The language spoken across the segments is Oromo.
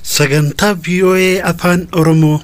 Sagantaa VOA Afaan Oromoo.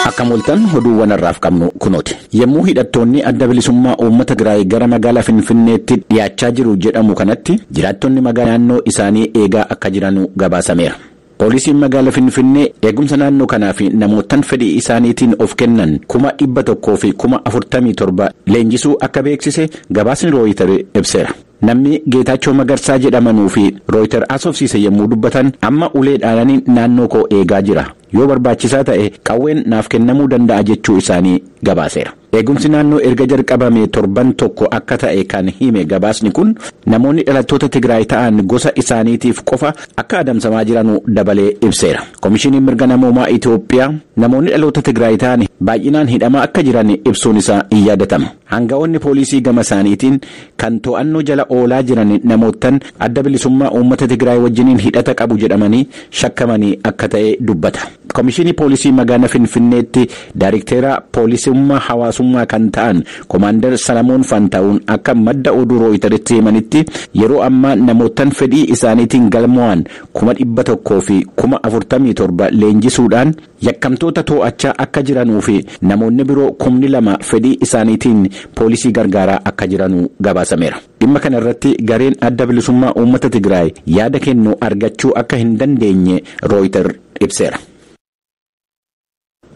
Akka mul'atan oduuwwan har'aaf qabnu kunooti. Yommuu hidhattoonni adda bilisummaa uummata Tigraay gara magaalaa Finfinneetti dhiyaachaa jiru jedhamu kanatti jiraattonni magaalaa naannoo isaanii eegaa akka jiranu gabaasameera. Poolisiin magaalaa Finfinnee eegumsa naannoo kanaa fi namoottan fedhii isaaniitiin of kennan kuma dhibba tokkoo fi kuma afurtamii torba leenjisuu akka beeksise gabaasni rooyitar ibseera. Namni Geetaachoo Magarsaa jedhamanuu fi Rooyiter haasofsiise yommuu dubbatan, Amma ulee dhaanani naannoo koo eegaa jira. Yoo barbaachisaa ta'e qawween naaf kennamuu danda'a jechuu isaanii gabaaseera. Eegumsi naannoo erga jalqabamee torban tokko akka ta'e kan hime gabaasni kun, namoonni dhalattoota Tigraay ta'an gosa isaaniitiif qofa akka adamsamaa jiranu dabalee ibseera. Komishiniin Mirga Namoomaa Itoophiyaa namoonni dhaloota Tigraay ta'an baay'inaan hidhamaa akka jiran ibsuun isaa in yaadatama. Aanga'oonni pooliisii gama isaaniitiin kan to'annoo jala oolaa jiran namoottan Adda Bilisummaa Uummata Tigraay wajjiniin hidhata qabu jedhamanii shakkamanii akka ta'e dubbata. Komishiinii Poolisii Magaana Finfinneetti Daarikteera Poolisummaa Hawaasummaa kan ta'an Komaandar Salamoon Faantaawuun akka madda oduu Rooyitaritti himanitti yeroo ammaa namoottan fedhii isaaniitiin galmoo'an kuma dhibba tokkoo fi kuma afurtamii torba leenjisuudhaan Yakkamtoota too'achaa akka jiranuu fi namoonni biroo kumni lama fedhii isaaniitiin poolisii gargaaraa akka jiranu gabaasameera. Dhimma kana irratti gareen Adda Bilisummaa Uummata Tigraay yaada kennu argachuu akka hin dandeenye Rooyiter ibseera.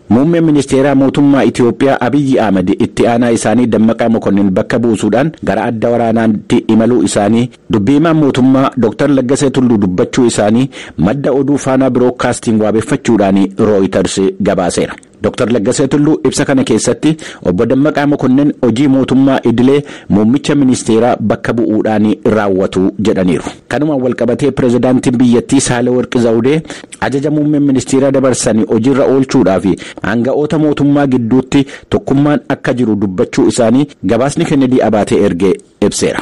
Muummeen Ministeeraa Mootummaa Itiyoophiyaa Abiyyi Ahmad itti aanaa isaanii Dammaqaa Mokonnin bakka buusuudhaan gara adda waraanaatti imaluu isaanii Dubbi himaan mootummaa Dr. Laggasee Tulluu dubbachuu isaanii madda oduu Faanaa Birookaastiing waabeffachuudhaan Rooyitars gabaaseera. Dr. Laggasee Tulluu ibsa kana keessatti Obbo Dammaqaa Mokonnin hojii mootummaa idilee muummicha ministeeraa bakka bu'uudhaan raawwatu jedhaniiru. Kanumaan walqabatee pirezidaantiin biyyattii Saahilawarqi Zawudee ajaja muummeen ministeeraa dabarsan hojiirra oolchuudhaaf aanga'oota mootummaa gidduutti tokkummaan akka jiru dubbachuu isaanii gabaasni Kennedii Abaatee erge ibseera.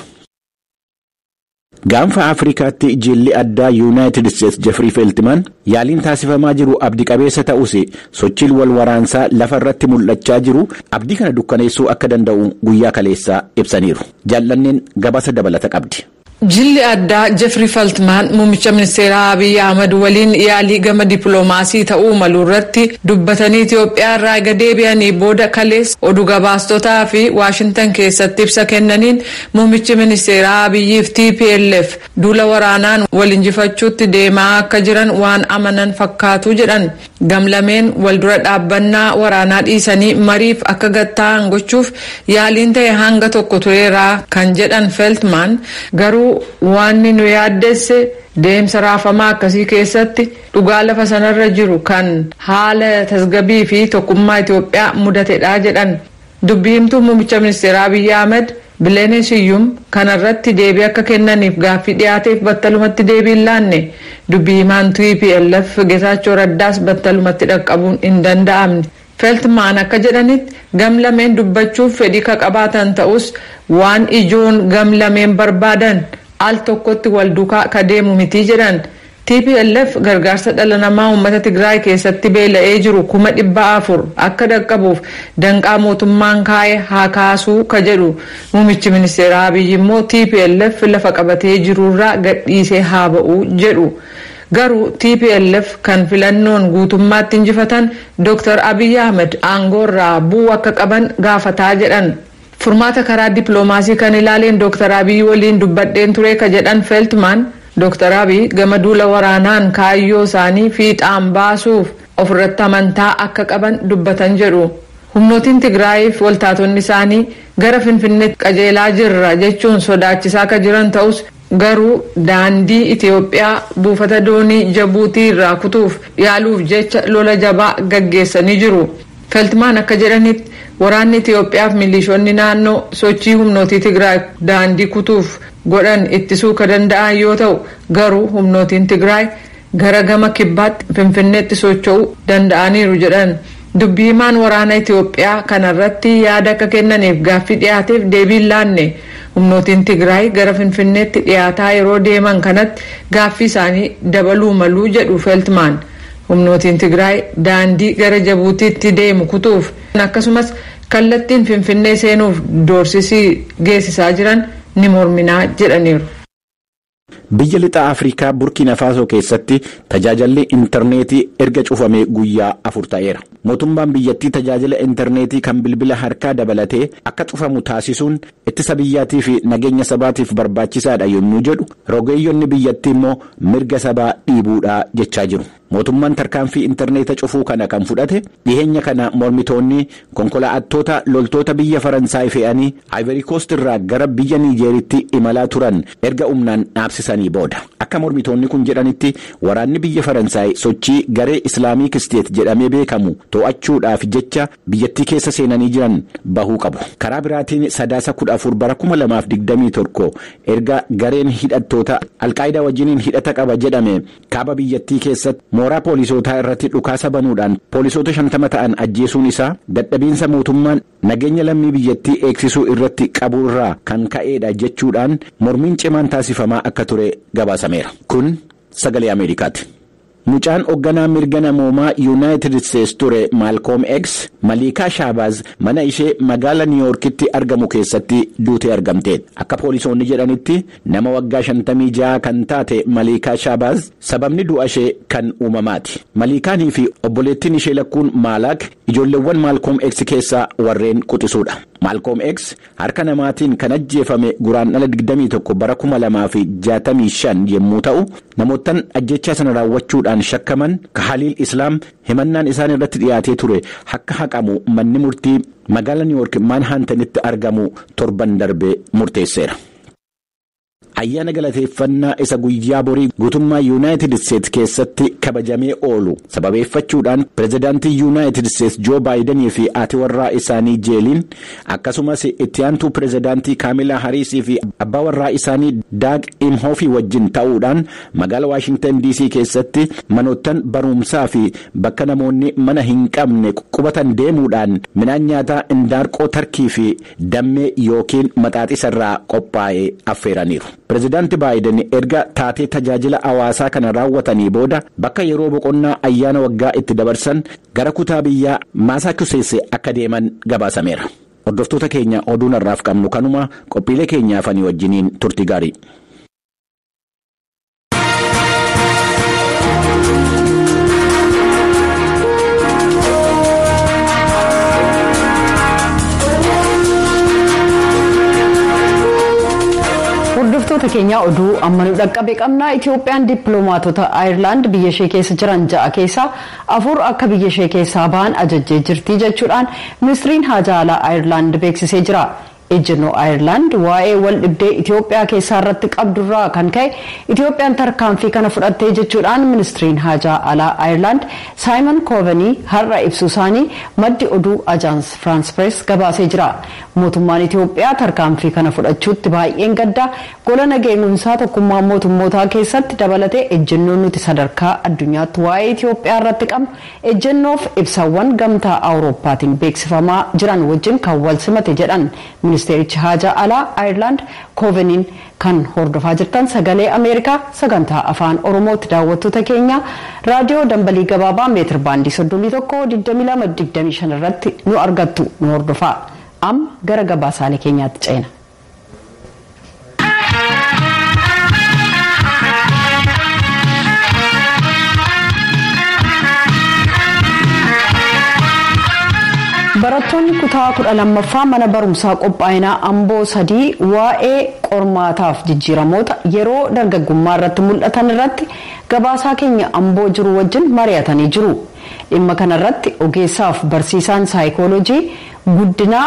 Gaanfa Afrikaatti jilli addaa Yuunaayitid Isteets Jefrii Feeltimaan yaaliin taasifamaa jiru abdi qabeessa ta'us sochiin wal waraansaa lafa irratti mul'achaa jiru abdii kana dukkaneessuu akka danda'u guyyaa kaleessaa ibsaniiru. Jaallanneen gabaasa dabalata qabdi. Jilli addaa Jefrii Feltmaan muummicha ministeeraa Abiy Ahmad waliin yaalii gama dippilomaasii ta'uu malu irratti dubbatanii Itiyoophiyaa irraa ega deebi'anii booda kaleessa odu gabaastotaafi Waashintan keessatti ibsa kennaniin Muummichi ministeeraa Abiyyii fi tplf duula waraanaan wal injifachuutti deemaa akka jiran waan amanan fakkaatu jedhan. Gamlameen wal dura dhaabbannaa waraanaa dhiisanii mariif akka gad taa'an gochuuf yaaliin ta'e hanga tokko tureera kan jedhan Feltman, garuu waanni nu yaaddesse deemsa raafamaa akkasii keessatti dhugaa lafa sanarra jiru kan haala tasgabii fi tokkummaa Itoophiyaa mudatedha jedhan. Dubbi himtuun muummicha ministeeraa Abiyyi Ahmad Bileenee Siyyum kana irratti deebii akka kennaniif gaaffii dhiyaateef battalumatti deebii hin laanne. Dubbi himaan tplf Getaachoo Raddaas battalumatti dhaqqabuun hin danda'amne. Feltmaan akka jedhanitti gam lameen dubbachuuf fedhii ka qabaatan ta'us waan ijoon gam lameen barbaadan al tokkotti wal dukaa ka deemu miti jedhan. Tplf gargaarsa dhala namaa uummata Tigraay keessatti beela'ee jiru kuma dhibba afur akka dhaqqabuuf danqaa mootummaan kaa'e haa kaasuu ka jedhu muumichi ministeeraa Abiy immoo tplf lafa qabatee jiruurraa gadhiisee haa ba'u jedhu. Garuu tplf kan filannoon guutummaatti injifatan Dr. Abiy Ahmed aangoorraa bu'uu akka qaban gaafataa jedhan. Furmaata karaa dippilomaasii kan ilaaleen Dooktar Abiy waliin dubbadheen ture ka jedhan Feltmaan, Dooktar Abiy gama duula waraanaan kaayyoo isaanii fiixaan baasuuf of irratti amantaa akka qaban dubbatan jedhu. Humnootiin Tigraayii fi waltaatonni isaanii gara Finfinneetti qajeelaa jirra jechuun sodaachisaa ka jiran ta'us garuu daandii Itiyoophiyaa buufata doonii Jabuutii irraa kutuuf yaaluuf jecha lola jabaa gaggeessanii jiru. Feltmaan akka jedhanitti, waraanni Itiyoophiyaaf milishoonni naannoo sochii humnootii Tigraay daandii kutuuf godhan ittisuu ka danda'an yoo ta'u, garuu humnootiin Tigraay gara gama kibbaatti Finfinneetti socho'uu danda'aniiru jedhan. Dubbi himaan waraana Itiyoophiyaa kana irratti yaada akka kennaniif gaaffii dhiyaateef deebii hin laanne. Humnootiin Tigraay gara Finfinneetti dhiyaataa yeroo deeman kanatti gaaffii isaanii dabaluu malu jedhu Feltmaan. Humnootiin Tigraay daandii gara Jabuutiitti deemu kutuuf akkasumas kallattiin Finfinnee seenuuf doorsisi geessisaa jiran ni mormina jedhaniiru. Biyya Lixa Afrikaa Burkiina Faasoo keessatti tajaajalli interneetii erga cufamee guyyaa afur ta'eera. Mootummaan biyyattii tajaajila interneetii kan bilbila harkaa dabalatee akka cufamu taasisuun Ittisa biyyaatii fi nageenya sabaatiif barbaachisaa dha yommuu jedhu, rogeeyyonni biyyattii immoo mirga sabaa dhiibuu dha jechaa jiru. Mootummaan tarkaanfii interneeta cufuu kana kan fudhate dhiheenya kana mormitoonni konkolaa'attoota loltoota biyya Faransaay fe'anii Ayverikoost irraa gara biyya Niijeeritti imalaa turan erga humnaan dhaabsisanii booda. Akka mormitoonni kun jedhanitti waraanni biyya Faransaay sochii garee Islaamiik Isteet jedhamee beekamu to'achuudhaaf jecha biyyattii keessa seenanii jiran bahuu qabu. Karaa biraatiin Sadaasa 14 bara 2021 erga gareen hidhattoota Al-Qaayidaa wajjiniin hidhata qaba jedhame kaaba biyyattii keessatti mooraa poolisootaa irratti dhukaasa banuudhaan poolisoota 50 ta'an ajjeesuun isaa dadhabiinsa mootummaan nageenya lammii biyyattii eegsisuu irratti qabu irraa kan ka'eedha jechuudhaan mormiin cimaan taasifamaa akka ture gabaasameera. Kun Sagalee Ameerikaati. Mucaan hogganaa mirga namoomaa Yunaayitid Isteets ture Maalkoom X, Maliikaa Shaabaaz mana ishee magaala Niiyoorkitti argamu keessatti duutee argamteet. Akka poolisoonni jedhanitti, nama waggaa shantamii ja'a kan taate Maliikaa Shaabaaz sababni du'a ishee kan uumamaati. Maliikaanii fi obboleettiin ishee lakkuun Maalaak ijoolleewwan Maalkoom X keessaa warreen quxisuudha. Maalkoom X Harka namaatiin kan ajjeefame Guraandhala 21 bara 2065 yemmuu ta'u, namoottan ajjeechaa sana raawwachuudhaan shakkaman Kahaliil Islaam himannaan isaan irratti dhiyaatee ture akka haqamu manni murtii magaala Niiwoork Maanhaantanitti argamu torban darbe murteesseera. Ayyaana galateeffannaa isa guyyaa borii guutummaa Yunaayitid Isteets keessatti kabajamee oolu sababeeffachuudhaan Pirezidaantiin Yunaayitid Isteets Joo Baayidanii fi haati warraa isaanii Jeeliin akkasumas itti aantuu Pirezidaantii Kaamilaa Hariisii fi abbaa warraa isaanii Daag Imhoofii wajjin ta'uudhaan magaala Waashingtan DC keessatti manoottan baruumsaa fi bakka namoonni mana hin qabne qubatan deemuudhaan midhaan nyaataa indaarqoo tarkii fi dammee yookiin maxaaxisa irraa qophaa'e affeeraniiru. Pirezidaanti Baayiden erga taatee tajaajila hawaasaa kana raawwatanii booda bakka yeroo boqonnaa ayyaana waggaa itti dabarsan gara kutaa biyyaa Maasaachuseetsi akka deeman gabaasameera. Hordoftoota keenya oduun har'aaf qabnu kanuma, qophiilee keenya hafanii wajjiniin turtii gaarii. Hordoftoota keenyaa oduu amma nu dhaqqabe qabna Itoophiyaan dippiloomaatota Ayirlaand biyya ishee keessa jiran ja'a keessaa afur akka biyya ishee keessaa bahan ajajjee jirti jechuudhaan ministiriin haajaa alaa Ayirlaand beeksisee jira. Ejjennoo Ayerlaand waa'ee waldhibdee Itoophiyaa keessaa irratti qabdu irraa kan ka'e Itoophiyaan tarkaanfii kana fudhattee jechuudhaan ministriin haajaa alaa Ayerlaand Saayimon Koovenii har'a ibsuu isaanii maddi oduu Ajaans Firaans Pirees gabaasee jira. Mootummaan Itoophiyaa tarkaanfii kana fudhachuutti baay'een gadda, gola nageegumsaa tokkummaa mootummootaa keessatti dabalatee ejjennoon nuti sadarkaa addunyaatti waa'ee Itoophiyaa irratti qabnu Ejjennoof ibsawwan Gamtaa Awurooppaatiin beeksifamaa jiran wajjin kan wal simate jedhan Ministeerichi Haajaa Alaa Ayerlaand Kooveniin. Kan hordofaa jirtan Sagalee Ameerikaa Sagantaa Afaan Oromooti. Daawwattoota keenya Raadiyoo Dambalii Gabaabaa Meetir Baandii 31, 22, 25 irratti nu argattu. Nu hordofaa. Amma gara gabaasaalee keenyaatti ceena. Barattoonni kutaa kudha lammaffaa mana barumsaa qophaa'inaa amboo sadii waa'ee qormaataaf jijjiiramoota yeroo dargaggummaa irratti mul'atan irratti gabaasaa keenya amboo jiru wajjin mari'atanii jiru. Dhimma kanarratti ogeessaaf barsiisaan saayikooloojii guddinaa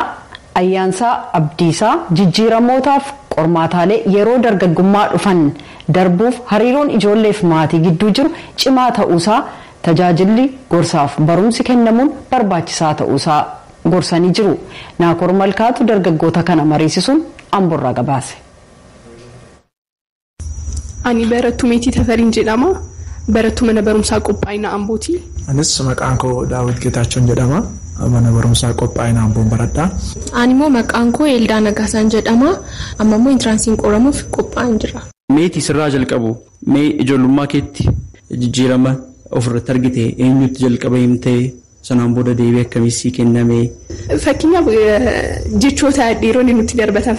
Ayyaansaa Abdiisaa, Jijjiiramootaaf qormaataalee yeroo dargaggummaa dhufan darbuuf hariiroon ijoolleef maatii gidduu jiru cimaa ta'uusaa tajaajilli gorsaaf barumsi kennamuun barbaachisaa ta'uusaa gorsanii jiru. Naakoor Malkaatu dargaggoota kana mariisisuun Amborraa gabaase. Ani Barattuu Meetii Tafariin jedhama. Barattuu Mana Barumsaa Qophaa'ina Ambooti. Anis maqaan koo Daawit Geetaachoon jedhama. Mana Barumsaa Qophaa'ina Amboon baradha. Ani immoo maqaan koo Eeldaa Nagaasaan jedhama. Amma immoo Intiraansiin qoramuuf qophaa'een jira. Meetii, sirraa jalqabu. Mee ijoollummaa keetti jijjiirama ofirratti argite eenyutti jalqaba himtee? Sanaan booda deebii akkamii sii kenname? Fakkeenyaaf jechoota dhiironni nutti darbatan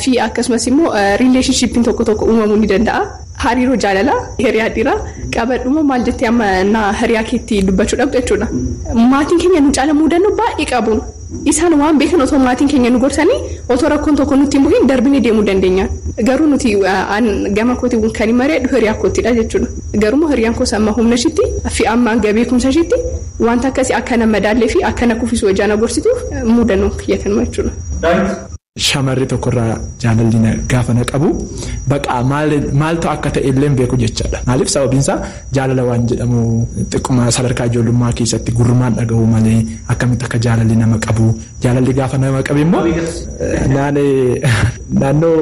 fi akkasumas immoo relationship'n tokko tokko uumamuu ni danda'a. Hariiroo jaalalaa hiriyaa dhiiraa qabadhuma maal jettee amma naa hiriyaa keetti dubbachuu dhabda jechuudha. Maatiin keenya nu caala muudannoo baay'ee qabu. Isaan waan beekan otoo maatiin keenya nu gorsanii otoo rakkoon tokko nutti hin buhiin darbinee deemuu dandeenya. Garuu nuti an gama kootiin kanin mari'adhu hiriyaa koottidha jechuudha. Garuummoo hiriyaan koos amma humnashiitti fi amma hanga beekumsashiitti wanta akkasii akka na madaallee fi akka na kufisu hojaa na gorsituuf muudannoon kiyya kanuma jechuudha. Daayitti. shamarri tokko irraa jaalalli na gaafa na qabu baqa maaltu akka ta'e illee beeku jechaadha. Maaliif sababiin isaa jaalala waan jedhamu xiqquma sadarkaa ijoollummaa keessatti gurrumaan dhagahu malee akkamitti akka jaalalli nama qabu jaalalli gaafa nama qabe immoo naannoo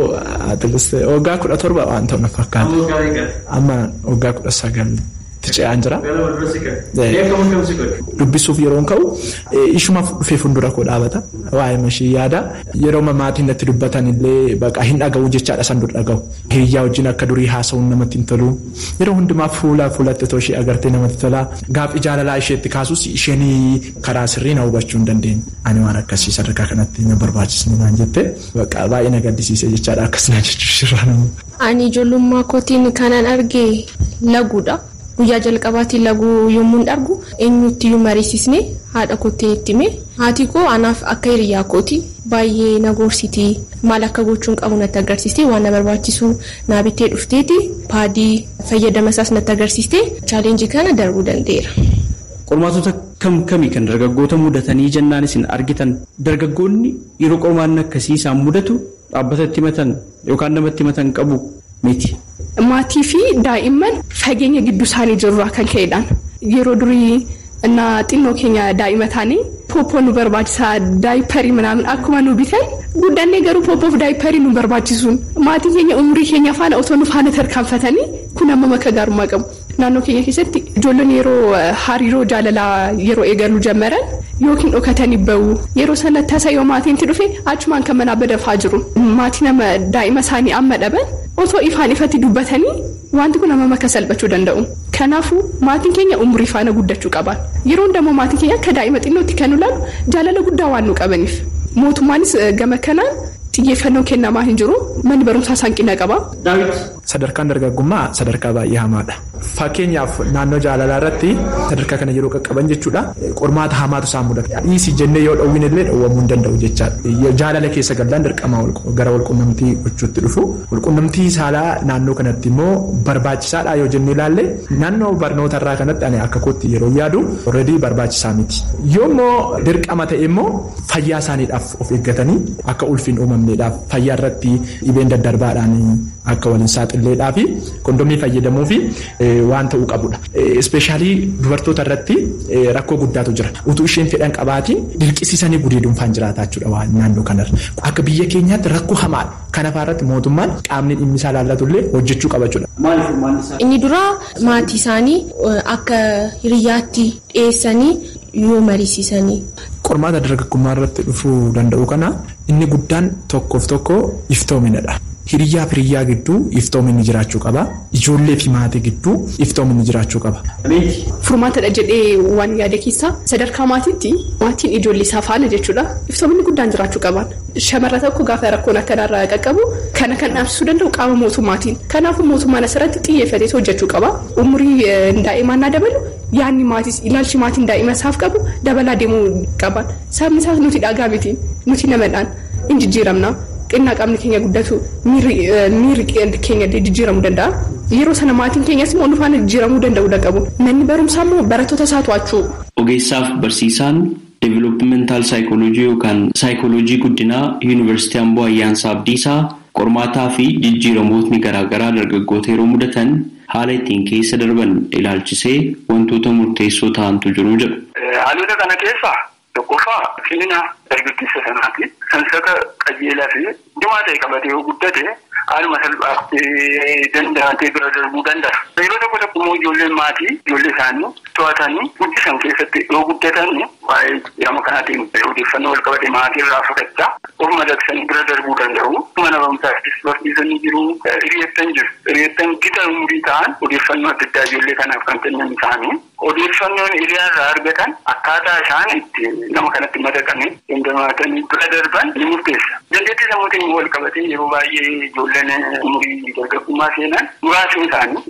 waggaa kudha torba waan ta'u na fakkaata. Amma waggaa kudha sagal itti ce'aan jira. Dubbisuuf yeroon ka'u ishumaaf dhufee fuuldura koo dhaabata. Waa'ee mashii yaada. Yeroo maatiin natti dubbatan illee baqa hin dhaga'u jechaadha san dur dhaga'u. Hiriyyaa wajjin akka durii haasa'uun namatti hin tolu. Yeroo hundumaa fuula fuulatti otoo ishee agartee namatti tola. Gaaffii jaalalaa isheetti kaasus isheen karaa sirrii na hubachuu hin dandeenye. Ani waan akkasii sadarkaa kanatti na barbaachisne naan jette. Baqa baay'ee na gaddisiise jechaadha akkas na jechuu ishirraa nama. Ani ijoollummaa kootiin kanan arge laguudha. Guyyaa jalqabaatii laguu yommuun argu eenyuttiyyuu mariisisne haadha koottin itti hime. Haati koo anaaf akka hiriyyaa kooti. Baay'ee na gorsiti. Maal akka gochuun qabu natti agarsiistee waan na barbaachisu naa bittee dhufteeti. Paadii fayyadama isaas natti agarsiistee challenge kana darbuu danda'eera. Qormaatota kam kami kan dargaggoota mudatanii jennaan isin argitan? Dargaggoonni yeroo qormaanni akkasii isaan mudatu Dhaabbata itti himatan yookaan nama itti himatan qabu miti. Maatii fi daa'imman fageenya gidduu isaanii jiru irraa kan ka'e dhaan. Yeroo durii innaa xinnoo keenya daa'ima taane pooppoo nu barbaachisa daayipparii minaamin akkuma nu bitan guddannee garuu pooppoof daayipparii nu barbaachisuun maatii keenya umurii keenya faana otoo nu faana tarkaanfatanii kun hammam akka gaarummaa qabu. Naannoo keenya keessatti ijoollonni yeroo hariiroo jaalalaa yeroo eegaluu jammaran yookiin dhokatanii ba'u. Yeroo sana tasa yoo maatiin itti dhufe achumaan kan manaa badafaa jiru. Maatii nama daa'ima isaanii amma dhaban otoo ifaan ifatti dubbatanii waanti kun hammam akka salphachuu danda'u. Kanaafuu maatiin keenya umurii faana guddachuu qaba. Yeroo hunda immoo maatiin keenya akka daa'ima xinnootti kan nu laalu jaalala guddaa waan nuu qabaniif. Mootummaanis gama kanaan xiyyeeffannoon kennamaa hin jiru. Manni barumsaas hanqina qaba. Daawit, Sadarkaan dargaggummaa sadarkaa baay'ee hamaadha. Fakkeenyaaf naannoo jaalalaa irratti sadarkaa kana yeroo qaqqaban jechuudha qormaata hamaatu isaan mudata. Dhiisi jennee yoo dhowwine illee dhowwamuu hin danda'u jechaadha. Jaalala keessa gallaan dirqama gara walqunnamtii gochuutti dhufu. Walqunnamtii saalaa naannoo kanatti immoo barbaachisaadhaa yoo jennee ilaalle naannoo barnoota irraa kanatti ani akka kootti yeroo yaadu already barbaachisaa miti. Yoo immoo dirqama ta'e immoo fayyaa isaaniidhaaf of eeggatanii akka ulfi hin uumamneedhaaf. fayyaa irratti dhibeen daddarbaadhaan akka wal hin saaxilleedhaaf kondomii fayyadamuu fi waan ta'uu qabudha. Ispeeshaalii dubartoota irratti rakkoo guddaatu jira. Utuu isheen fedhan qabaatiin dirqisiisanii gudeeduun faan jiraataa jechuudha waan naannoo kanarra. Akka biyya keenyaatti rakkoo hamaadha. Kana faarratti mootummaan qaamni dhimmi isaa laallatu illee hojjechuu qaba jechuudha. Maali furmaanni isaa? Inni duraa maatii isaanii akka hiriyyaatti dhiyeessanii yoo mariisisanii. Qormaata dargaggummaa irratti dhufuu danda'u kana inni guddaan tokkoof tokko iftoomina dha. Hiriyyaaf hiriyyaa gidduu iftoominni jiraachuu qaba. Ijoollee fi maatii gidduu iftoominni jiraachuu qaba. Furmaata dha jedhee waan yaade keessaa sadarkaa maatiitti maatiin ijoollee isaa faana jechuu dha iftoominni guddaan jiraachuu qabaan. Shamarra tokko gaafa rakkoon akkanaa irra qaqqabu kana kan dhaabsisuu danda'u qaama mootummaatiin. Kanaafuu mootummaan asirratti xiyyeeffateetu hojjechuu qaba. Umurii daa'imaa innaa dabalu. Yaadni maatiis, ilaalchi maatiin daa'ima isaaf qabu dabalaa deemuu qaba. Sababni isaas nuti dhagaa miti, nuti namadhaan, in jijjiiramna. Xinnaa qaamni keenya guddatu miirri miirri keenya illee jijjiiramuu danda'a. Yeroo sana maatiin keenyas immoo nu faana jijjiiramuu danda'uu daqabu. Manni barumsaa immoo barattoota isaa to'achuu. Ogeessaaf barsiisaan Developmental Psychology yookaan Saayikooloojii Guddinaa Yuunivarsiitii Amboo Ayyaansaa Abdiisaa, qormaataa fi jijjiiramootni garaa garaa dargaggoota yeroo mudatan Haala ittiin keessa darban ilaalchisee wantoota murteessoo tahantu jiru jedhu. Haalota kana keessaa tokkoffaa cimina dargaggeessa sanaati. Sansaka qajeelaa fi cimaa tahe qabatee yoo guddate haaluma salphaatti danda'atee bira darbuu danda'a. Yeroo tokko tokko immoo ijoolleen maatii ijoollee isaanii to'atanii guddisan keessatti yoo guddatan Waa'ee jijjiirama kanaatiin odeeffannoo walqabate maatii irraa fudhachaa of madaqsanii bira darbuu danda'u. Mana barumsaattis barsiisonni jiru, hiriyoottan jiru. Hiriyoottan gita umurii ta'an odeeffannoo adda addaa ijoollee kanaaf kan kennan isaanii. Odeeffannoon hiriyaa irraa argatan akkaataa isaan itti nama kanatti madaqanii. dandamaatanii bira darban ni murteessa. Dandeettii sammuutiin immoo walqabatee yeroo baay'ee ijoolleen umurii dargaggummaa seenan muraasni isaanii.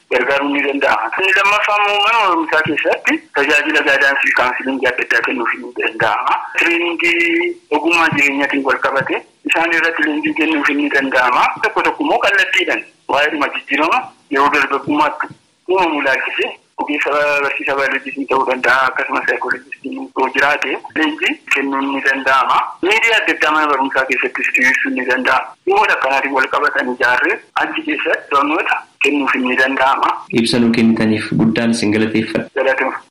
gargaaruun ni danda'ama. Inni lammaffaa immoo mana barumsaa keessatti tajaajila gaadaansii fi kaawunsiliingii adda addaa kennuufiin ni danda'ama. Tireeningii ogummaa jireenyaatiin wal qabate isaan irratti leenjii kennuufiin ni danda'ama. Tokko tokko immoo kallattiidhaan waa'eedhuma jijjiirama yeroo dargaggummaatti uumamu ilaalchisee ogeessa barsiisaa baayoloojiitiin ta'uu danda'a akkasumas saayikooloojistiin yoo jiraate leenjii kennuun ni danda'ama. Miidiyaa adda addaa mana barumsaa keessattis diriirsuun ni danda'ama. Dhimmoota akkanaatiin wal qabatan ijaarree achi keessatti barnoota kennuufiin ni danda'ama. Ibsa nuu kennitaniif guddaan isin galateeffadha. Galatoomaa.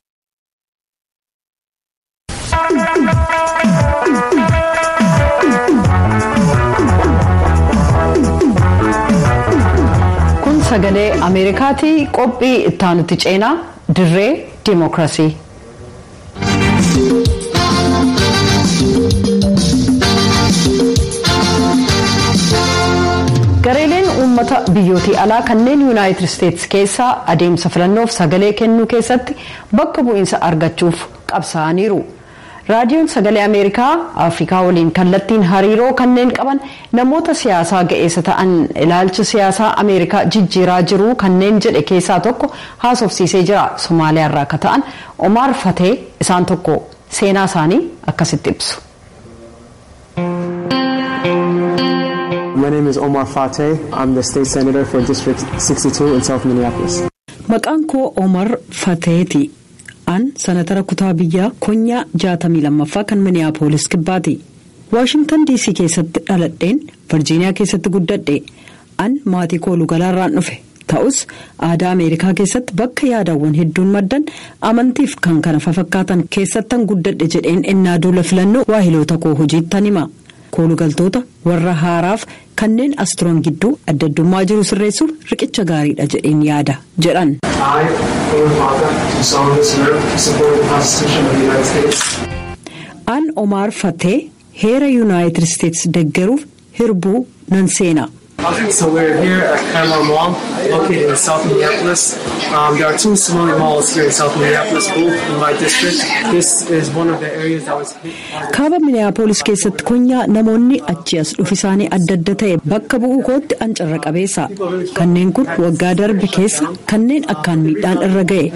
Kun sagalee Ameerikaati qophii ittaanutti ceenaa dirree dimookirasii. Gareeleen uummata biyyootii alaa kanneen Yuunaayitid Isteetsi keessaa adeemsa filannoof sagalee kennuu keessatti bakka bu'iinsa argachuuf qabsaa'aniiru. Raadiyoon Sagalee Ameerikaa Afrikaa waliin kallattiin hariiroo kanneen qaban namoota siyaasaa ga'eessa ta'an ilaalcha siyaasaa Ameerikaa jijjiiraa jiru kanneen jedhe keessaa tokko haasofsiisee jira. Somaaliyaarraa akka ta'an Omaar Fatee isaan tokko. Seenaa isaanii akkasitti ibsu. My name is Omar Fateh. I'm the state senator for District 62 in South Minneapolis. Maqaan koo Omar Fateeti. An sanatara kutaa biyyaa konyaa 62ffaa kan Minneapolis kibbaati. Waashingtan DC keessatti dhaladheen Virginia keessatti guddadhe. An maatii koolugalaarraan dhufe. Ta'us, aadaa Ameerikaa keessatti bakka yaadawwan hedduun maddan, amantiif kan kana fafakkaatan keessattan guddadhe jedheen ennaa duula filannoo waahiloota koo hojiittan hima. Koolugaltoota warra haaraaf kanneen as turan gidduu addaddummaa jiru sirreessuuf riqicha gaariidha jedheen yaada, jedhan. I, Omar Fattah, do solemnly swear to support the Constitution of the United States. An Omaar Fattee heera Yunaayitid Isteets deggeruuf hirbuu nan seena. Okay, so we're here at Paramount Mall, located in South Minneapolis. Um, there are two smaller malls here in South Minneapolis, both in my district. This is one of the areas that was hit hardest. kaaba miniyaapolis keessatti konyaa namoonni achi as dhufisaanii adda adda ta'e bakka bu'uu kootti an carra qabeessa kanneen kun waggaa darbe keessa kanneen akkaan miidhaan irra ga'e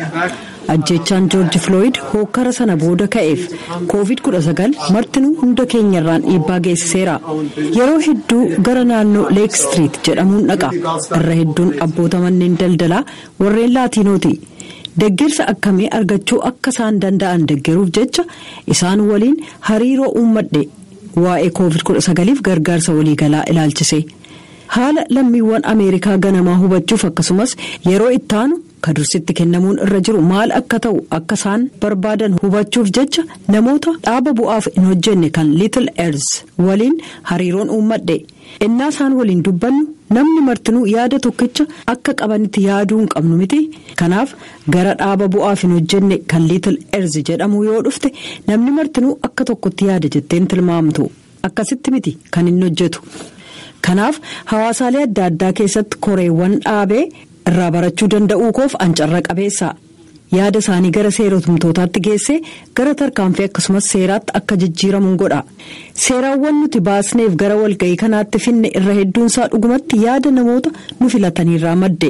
Ajjeechaan Joorji Filooyid hookkara sana booda ka'eef Koovid 19 martinuu hunda keenyarraan dhiibbaa geessiseera. Yeroo hedduu gara naannoo Leek Istiriit jedhamuun dhaqa. Irra hedduun abboota manneen daldalaa warreen Laatiinooti. Deggersa akkamii argachuu akka isaan danda'an deggeruuf jecha isaan waliin hariiroo uummadhe. Waa'ee Koovid 19f gargaarsa waliigalaa ilaalchisee. Haala lammiiwwan Ameerikaa ganamaa hubachuuf akkasumas yeroo ittaanu Ka dursitti kennamuun irra jiru maal akka ta'u akka isaan barbaadan hubachuuf jecha namoota dhaaba bu'aaf hin hojjenne kan Little Earth waliin hariiroon uummadhe. Ennaa isaan waliin dubbannu namni martinuu yaada tokkicha akka qabanitti yaaduu hin qabnu mitii? Kanaaf gara dhaaba bu'aaf hin hojjenne kan Little Earth jedhamuu yoo dhufte namni martinuu akka tokkotti yaada jetteen tilmaamtu. Akkasitti miti kan inni hojjetu. Kanaaf hawaasaalee adda addaa keessatti koreewwan dhaabee irraa barachuu danda'uukoof an carra qabeessa. Yaada isaanii gara seeratumtootaatti geessee gara tarkaanfii akkasumas seeraatti akka jijjiiramun godha. Seeraawwan nuti baasneef gara walga'ii kanaatti finne irra hedduunsaa dhugumatti yaada namoota nu filataniirraa madde.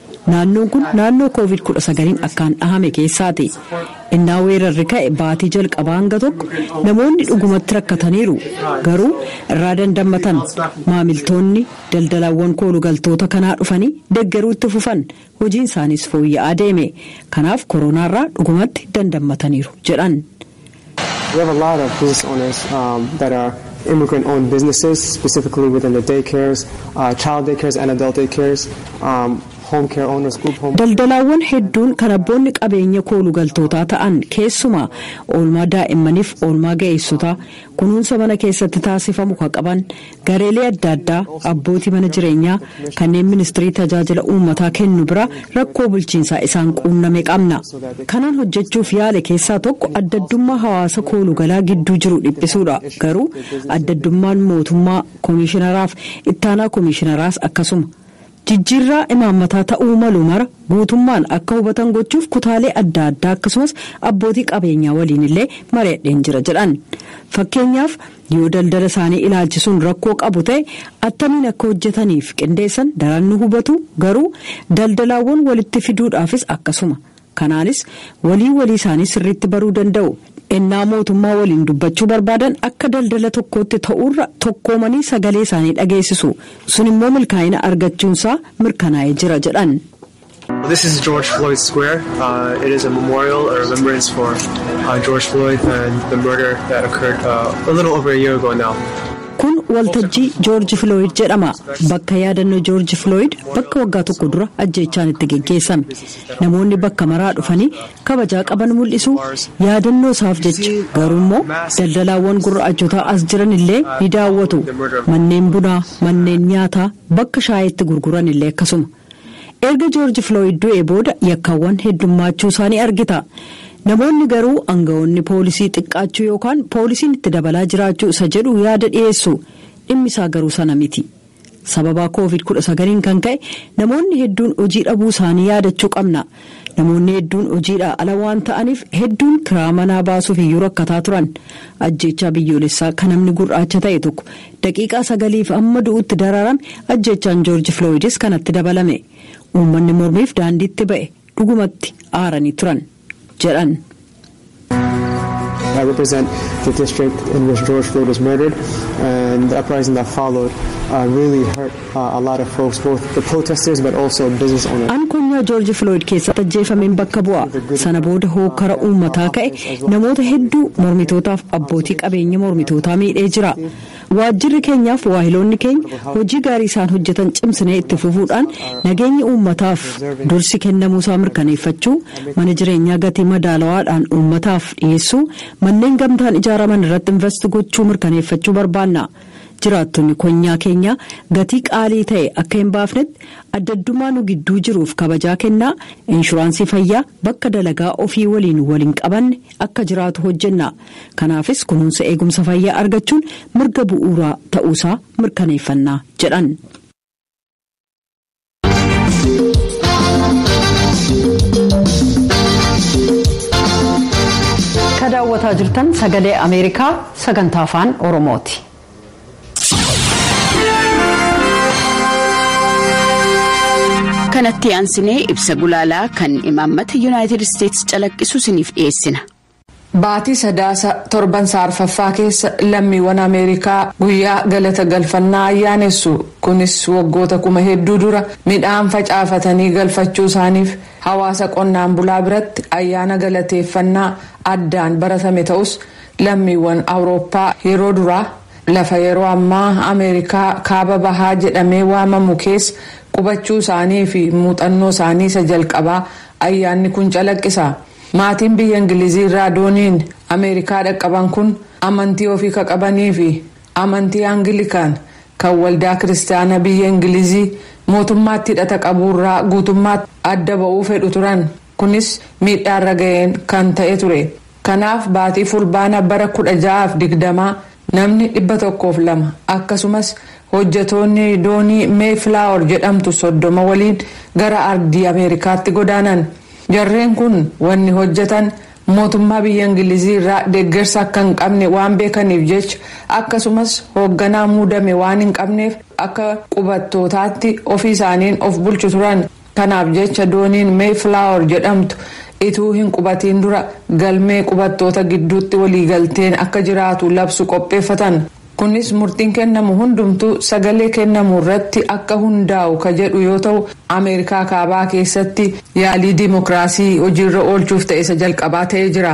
Naannoon kun naannoo Covid 19n akkaan dhahame keessaati. Ennaa weerarri ka'e baatii jalqabaa hanga tokko namoonni dhugumatti rakkataniiru. Garuu irraa dandammatan. Maamiltoonni, daldalawwan koolugaltoota kanaa dhufanii deggeruu itti fufan. Hojiin isaaniis fooyya'aa deeme. Kanaaf koronaarraa dhugumatti dandammataniiru, jedhan. We have a lot of business owners um, that are immigrant owned businesses, specifically within the daycares, uh, child daycares, and adult daycares, um, home care owners, group home. Daldalaawwan hedduun kan abboonni qabeenya koolu galtootaa ta'an keessumaa oolmaa daa'immaniif oolmaa ga'eessotaa kunuunsa mana keessatti taasifamu kan qaban Gareelee adda addaa abbootii mana jireenyaa kanneen ministirii tajaajila uummataa kennu bira rakkoo bulchiinsaa isaan quunname qabna. Kanaan hojjechuuf yaale keessaa tokko addaddummaa hawaasa koolugalaa gidduu jiru dhiphisuudha. Garuu addaddummaan mootummaa, komiishinaraaf ittaanaa komiishinaraas akkasuma. Jijjiirraa imaammataa ta'uu malu mara guutummaan akka hubatan gochuuf kutaalee adda addaa akkasumas abbootii qabeenyaa waliin illee mari'adheen jira jedhan. Fakkeenyaaf, yoo daldala isaanii ilaalchisuun rakkoo qabu ta'e attamiin akka hojjetaniif qindeessan daran nu hubatu, garuu daldalaawwan walitti fiduudhaafis akkasuma. Kanaanis walii walii isaanii sirriitti baruu danda'u. Ennaa mootummaa waliin dubbachuu barbaadan akka daldala tokkootti ta'uurra tokkoomanii sagalee isaanii dhageessisu. Sun immoo milkaa'ina argachuunsaa mirkanaa'ee jira jedhan. This is George Floyd Square. Uh, it is a memorial, a remembrance for uh, George Floyd and the murder that occurred uh, a little over a year ago now. Kun waltajjii Joorji Filooyid jedhama. Bakka yaadannoo Joorji Filooyid bakka waggaa tokko dura ajjeechaan itti geggeessame. Namoonni bakka maraa dhufanii kabajaa qaban mul'isu, yaadannoo isaaf jecha. Garuu immoo daldalaawwan gurraachotaa as jiran illee ni daawwatu. Manneen bunaa, manneen nyaataa, bakka shaayii itti gurguran illee akkasuma. Erga Joorji Filooyid du'ee booda yakkawwan heddummaachuu isaa ni argita. Namoonni garuu angawoonni poolisii xiqqaachuu yookaan poolisiin itti dabalaa jiraachuu isa jedhu yaada dhiyeessu. Dhimmi isaa garuu sana miti. Sababa Covid 19n kan ka'e namoonni hedduun hojii dhabuu isaanii yaadachuu qabna. Namoonni hedduun hojiidhaa ala waan ta'aniif hedduun kiraa manaa baasuuf iyyuu rakkataa turan. Ajjeechaa biyyoolessaa ka namni gur'aacha ta'e tokko daqiiqaa sagaliif hamma du'utti dararame ajjeechaan Joorji Filooyidis kanatti dabalame. Uummanni mormiif daandiitti ba'e. Dhugumatti aaranii turan. jedhan. I represent the district in which George Floyd was murdered, and the uprising that followed uh, really hurt uh, a lot of folks, both the protesters but also business owners. An konyaa George Floyd keessatti ajjeefameen bakka bu'a. Sana booda hookkara uummataa ka'e namoota hedduu mormitootaaf abbootii qabeenya mormitootaa miidhee jira. Waajjirri keenyaaf waahiloonni keenya hojii gaarii isaan hojjetan cimsinee itti fufuudhaan nageenyi uummataaf dursi kennamuusaa mirkaneeffachuu, mana jireenyaa gatii madaalawaadhaan uummataaf dhiyeessuu, manneen gamtaan ijaaraman irratti invast gochuu mirkaneeffachuu barbaanna. Jiraattonni konyaa keenyaa gatii qaalii ta'e akka hin baafnetti addaddummaa nu gidduu jiruuf kabajaa kennaa inshuraansii fayyaa bakka dalagaa ofii waliin wal hin qabanne akka jiraatu hojjenna. Kanaafis kunuunsa eegumsa fayyaa argachuun mirga bu'uuraa ta'uusaa mirkaneeffanna jedhan. Ka daawwataa jirtan sagalee Ameerikaa sagantaa afaan Oromooti. kanatti aansinee ibsa gulaalaa kan imaammata yuunaayitid isteetsi calaqqisu isiniif dhiyeessina. Baatii Sadaasa torban isaa arfaffaa keessa lammiiwwan Ameerikaa guyyaa galata galfannaa ayyaanessu. Kunis waggoota kuma hedduu dura midhaan facaafatanii galfachuu isaaniif hawaasa qonnaan bulaa biratti ayyaana galateeffannaa addaan baratame ta'us lammiiwwan Awurooppaa yeroo duraa lafa yeroo ammaa Ameerikaa kaaba bahaa jedhamee waamamu keessa qubachuu isaanii fi muuxannoo isaanii isa jalqabaa ayyaanni kun calaqqisa. Maatiin biyya Ingilizii irraa dooniin Ameerikaa dhaqqaban kun amantii ofii ka qabanii fi amantii Angilikaan kan waldaa kiristaana biyya Ingilizii mootummaatti hidhata qabuu irraa guutummaatti adda ba'uu fedhu turan. Kunis miidhaa irra ga'een kan ta'e ture. Kanaaf baatii Fulbaana bara 1620 Namni 102, akkasumas hojjetoonni doonii Mayflower jedhamtu 30 waliin gara ardii Ameerikaatti godaanan. Jarreen kun wanni hojjetan mootummaa biyya Ingilizii irraa deggersa akka hin qabne waan beekaniif jecha, akkasumas hoogganaa muudame waan hin qabneef akka qubattootaatti ofii isaaniin of bulchu turan. Kanaaf jecha dooniin Mayflower jedhamtu ituu hin qubatiin dura galmee qubattoota gidduutti waliigalteen akka jiraatu labsu qopheeffatan. Kunis murtiin kennamu hundumtuu sagalee kennamu irratti akka hundaa'u ka jedhu yoo ta'u, Ameerikaa Kaabaa keessatti yaalii dimokiraasii hojiirra oolchuuf ta'e isa jalqabaa ta'ee jira.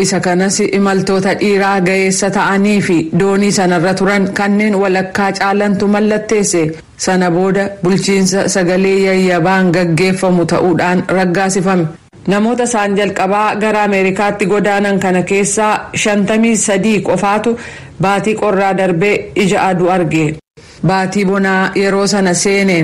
Isa kanas imaltoota dhiiraa ga'eessa ta'anii fi doonii sanarra turan kanneen walakkaa caalantu mallatteesse. Sana booda bulchiinsa sagalee yayyabaan gaggeeffamu ta'uudhaan raggaasifame. Namoota isaan jalqabaa gara Ameerikaatti godaanan kana keessaa shantamii sadii qofaatu baatii qorraa darbee ija aduu arge. Baatii bonaa yeroo sana seene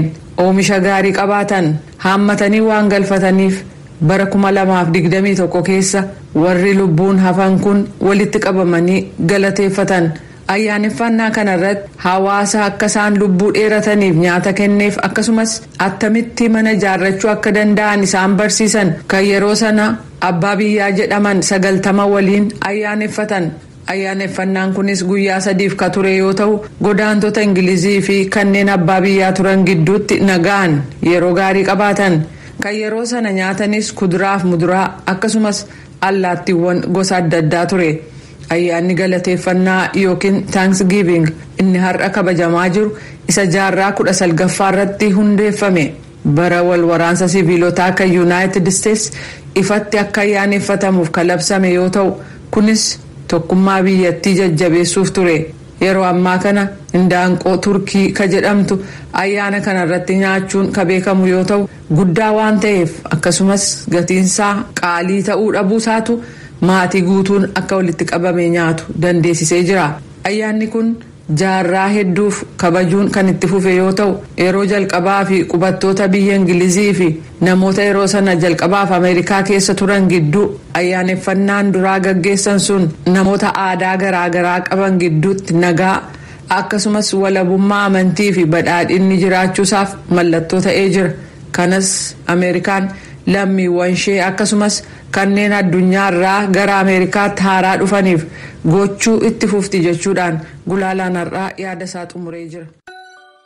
oomisha gaarii qabaatan haammatanii waan galfataniif bara kuma lamaa fi digdamii tokko keessa warri lubbuun hafan kun walitti qabamanii galateeffatan. Ayyaaneffaannaa kanarratti hawaasa akka isaan lubbuu dheerataniif nyaata kenneef akkasumas attamitti mana ijaarrachuu akka danda'an isaan barsiisan kan yeroo sana abbaa biyyaa jedhaman sagaltama waliin ayyaaneffatan. Ayyaaneffannaan kunis guyyaa sadiif ka ture yoo tahu, godaantota Ingilizii fi kanneen abbaa biyyaa turan gidduutti nagaan yeroo gaarii qabaatan. Kan yeroo sana nyaatanis kuduraa fi muduraa akkasumas allaattiiwwan gosa adda addaa ture. Ayyaanni galateeffannaa yookiin Thanksgiving inni har'a kabajamaa jiru isa jaarraa kudha salgaffaa irratti hundeeffame. Bara wal waraansa siviilotaa kan Yunaayitid Isteets ifatti akka ayyaaneffatamuuf kan labsame yoo ta'u, kunis tokkummaa biyyattii jajjabeessuuf ture. Yeroo ammaa kana Indaanqoo Turkii ka jedhamtu ayyaana kana irratti nyaachuun ka beekamu yoo ta'u, guddaa waan ta'eef akkasumas gatiinsaa qaalii ta'uu dhabuusaatu maatii guutuun akka walitti qabamee nyaatu dandeesisee jira. Ayyaanni kun. Jaarraa hedduuf kabajuun kan itti fufe yoo ta'u, yeroo jalqabaa fi qubattoota biyya Ingilizii fi namoota yeroo sana jalqabaaf Ameerikaa keessa turan gidduu ayyaaneffannaan duraa gaggeessan sun namoota aadaa garaa garaa qaban gidduutti nagaa, akkasumas walabummaa amantii fi badhaadhinni jiraachuusaaf mallattoo ta'ee jira. Kanas Ameerikaan lammiiwwanshee akkasumas. Kanneen addunyaa irraa gara Ameerikaatti haaraa dhufaniif gochuu itti fufti jechuudhaan gulaalaan har'aa yaada isaa xumuree jira.